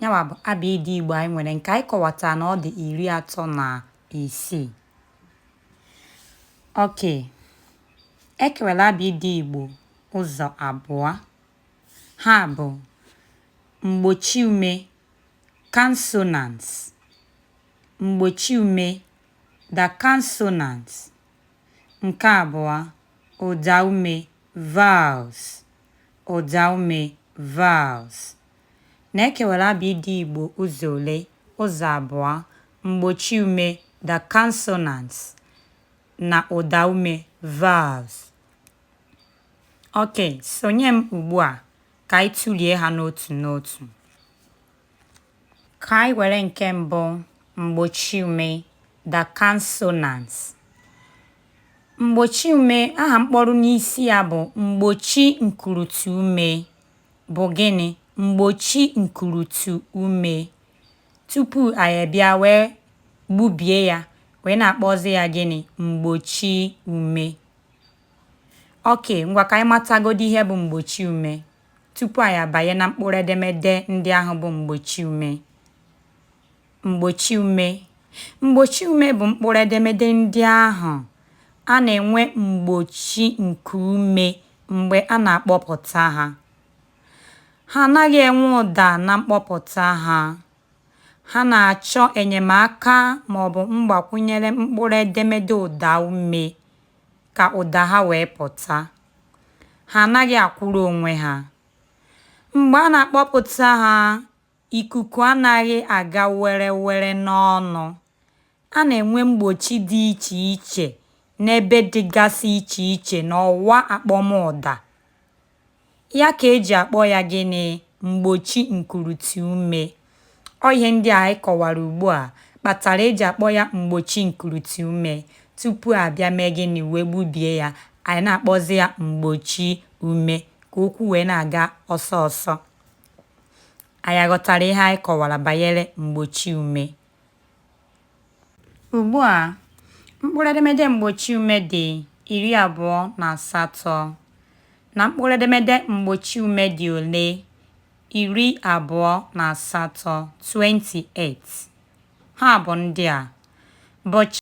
Nya wa bụ abịịdịị Igbo anyị nwere nke anyị kọwata na ọ dị iri atọ na isii. Okay, e kewara abịịdịị Igbo ụzọ abụọ. Ha bụ mgbochi ume consonants, mgbochi ume the consonants. Nke abụọ, ụda ume vowels, ụda ume vowels. na e kewara abịịdịị Igbo ụzọ ole? Ụzọ abụọ, mgbochiume, the consonants, na ụdaume, vowels. Okay, sonye m ugbu a ka anyị tụlie ha n'otu n'otu. Ka anyị were nke mbụ, mgbochiume, the consonants. Mgbochiume, aha mkpọru n'isi ya bụ mgbochi nkuruti ume. bụ gịnị? Mgbochi nkuruti ume. Tupu anyị abịa wee gbubie ya wee na-akpọzi ya gịnị? Mgbochi ume. Okay, ngwa ka anyị matagodi ihe bụ mgbochi ume tupu anyị abanye na mkpụrụ edemede ndị ahụ bụ mgbochi ume. Mgbochi ume. Mgbochi ume bụ mkpụrụ edemede ndị ahụ a na-enwe mgbochi nke ume mgbe a na-akpọpụta ha. Ha anaghị enwe ụda na mkpọpụta ha. Ha na-achọ enyemaka ma ọ bụ mgbakwunyere mkpụrụ edemede ụda ume ka ụda ha wee pụta. Ha anaghị akwụrụ onwe ha. Mgbe a na-akpọpụta ha, Ikuku anaghị aga were were n'ọnụ. A na-enwe mgbochi dị iche iche n'ebe dịgasị iche iche n'ọwa akpọmụda. Ya ka e ji akpọ ya gịnị? Mgbochi nkuruti ume. Ọ ihe ndị a anyị kọwara ugbu a kpatara e ji akpọ ya mgbochi nkuruti ume. Tupu a bịa mee gịnị? Wee gbubie ya, anyị na-akpọzi ya mgbochi ume ka okwu wee na-aga ọsọ ọsọ. Anyị aghọtara ihe anyị kọwara banyere mgbochi ume. Ugbu a, mkpụrụ edemede mgbochi ume dị iri abụọ na asatọ na mkpụrụ edemede mgbochi ume dị ole? Iri abụọ na asatọ, 28. Ha bụ ndị a. B, ch.